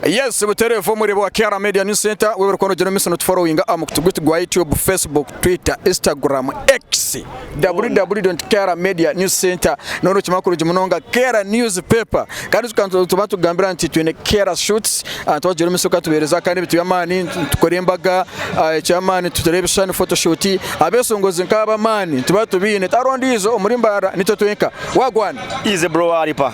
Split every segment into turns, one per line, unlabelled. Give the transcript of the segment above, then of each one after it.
Yes butere va omurebe wa Kiara media news center webare kuba nogira omumiso notufollowinga aha mukutu gwitu gwa YouTube, Facebook, Twitter, Instagram, X, www.kiaramedianewscentre noba nokimanya kurungi munonga Kiara news paper kandi ijuka nituba nitukugambira nti twine Kiara shoots abantu bagira omumiso kukatubereza kandi ebintu byamaani nitukora embaga ekyamaani tuteera ebishushani photoshoot abesongozi nkaabo amaani nituba tubiine tihariho ondiijo omuri mbaara nitwe twenka wagwan. Easy bro waripa.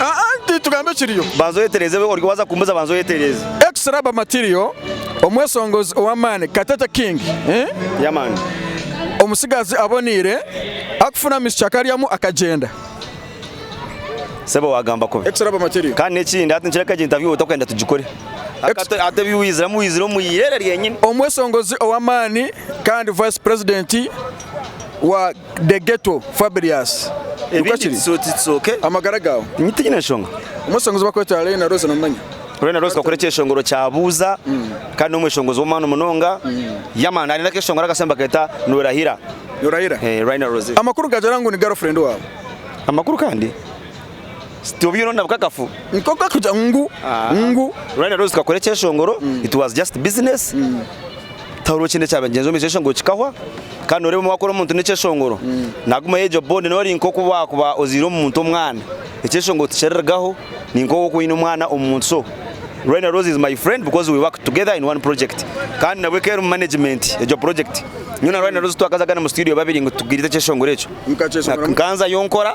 Anti tugambe
ekiriyo. Banza oyetereze oryo
waza kumbuza banza oyetereze. Ex Rubber Material
omwesongozi owamaani Katete King eeh. Yeah man. Omutsigazi aboniire akufuna amishiki akaryamu akagyenda.
Sebo wagamba kubi. Ex Rubber Material. Kandi
nekindi hati nikireka
egi interview otakweenda tugikore. Hati hati ebi wiziremu wizire omu iirere ryenyini. Omwesongozi
owamaani kandi Vice President wa. The ghetto Fabrius nikwo kiri?
Amagara gaawe? Nyowe tinyine
nshonga.
Omwe oshonga ezibakweta
Lena Rose nomumanya? Lena Rose kakora
ekyeshongoro kya Buuza kandi nomweshongozi womumaani munonga yeah man aine akeshongoro akasya nibaketa Norahira Norahira eh Rina Rose. Amakuru gagira ngu ni girl
friend waawe? Amakuru kandi
obwiire oine nabukakafu? Nk'oku arikugira ngu
ngu. Rina
Rose kakora ekyeshongoro it was just business. Tahurira okiine ekyabagyenzi omu isheshe ngu kikahwa kandi noreeba omwe wakora omuntu nekyeshongoro naguma yegyo bond nori nkoku wakuba ozaire omuntu omwana ekyeshongoro tikirirugaho ninkoku okuba oyine omwana omuntu so Rwenda Rose is my friend because we work together in one project kandi nabwe keri omu management egyo project nyowe na Rwenda Rose twakazagana omu studio babiri ngu tugire ekyeshongoro ekyo nkanzayo nkora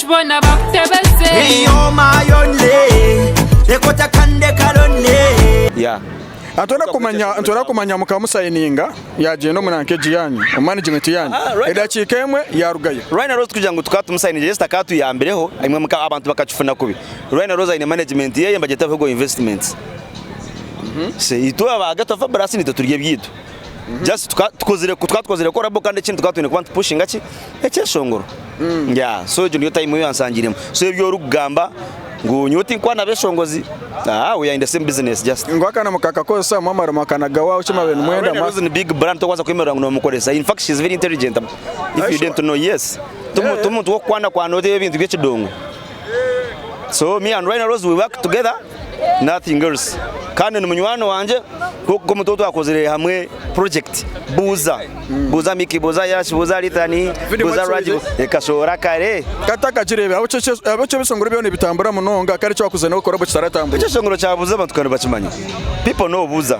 Boona bakutebeze. You're my
only, reka otakande kalonely. Yeah
Nitwenda kumanya
nitwenda kumanya muka musayininga yagyenda omu rank egi yanyu omu management yanyu edakiika emwe yarugayo. Rhino Rose kugira ngu tukaba
tumusayininge yes takatuyambireho imwe muka abantu bakakifuna kubi Rhino Rose aine management yeye nibagyeta Bihogo Investments so itwe aba Ghetto Fabulous nitwe turya ebyaitu. just tuka tukozire tukaba tukozire collabo kandi ekindi tukaba twine kuba nitupushinga ki ekyeshongoro yeah so egyo niyo time eyansangiremu so ebi orikugamba ngu nyowe tinkuba nabeshongozi ah we are in the same business just ngu akana mukakakozesa
mwamara mwakanagawaho ki mwabire nimwenda Rene mwa Rose ni big brand tokubaasa
kwemerera ngu noomukoresa in fact she is very intelligent if Are you you didn't know yes Tomu- Yeah. tomuntu w'okukwanakwana oteho ebintu by'ekidongo so me and Rene Rose we work together nothing else kandi nimunywani wangye nkoku omuntu otwakozire hamwe project buuza buuza miki buuza yash buuza ritani buuza raj kashoora kare katakagirebe
abokyo ebisongoro byona nibitambura munonga kare ekyo wakuze nawe kora bokitaratambura ekyo ekisongoro kyabuuza abantu
kandi bakimanya people know buuza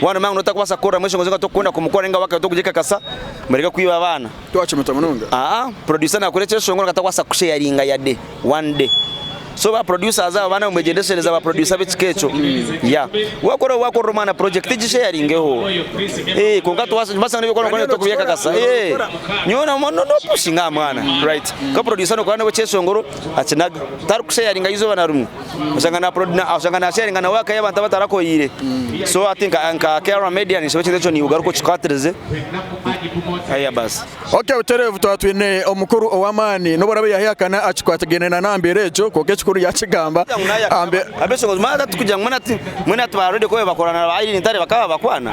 Mwana mama noba otakubaasa kukorera mwesho ngu oze ngu tokukunda kumukorera ninga wakare tokugikakasa, mureke kwiba abaana. Twacumita munonga. Aa producer
nakora
ekyeshonga oreka atakwasa kusharinga yade
one
day so ba producers abo banawe mwegyendeshereze aba producer bekika ekyo yeah wakora wakorera omwana project gisharingeho eeh kwonka twasa twasanga nebi orikukora ngu tokubyekakasa eeh nyowe no no pushinga aha mwana right kwonka producer nokora nawe ekyeshongoro akinaga tarikusharinga izooba narimwe. oshanga na upload na oshanga na sharinga na work y'abantu abatarakoyire so ati nka nka KR media nisho ekintu ekyo niugaruka okikatirize aya basi Okay butereevu twaba
twine omukuru ow'amaani nobu orabe yahihakana akikwatagaine na nambeera egyo kwonka ekikuru yakigamba ambe abeshongozi mwana tatukugira
ngu mwana ati mwana ati ba radio kobe bakorana na ba Irene Ntare bakaba bakwana.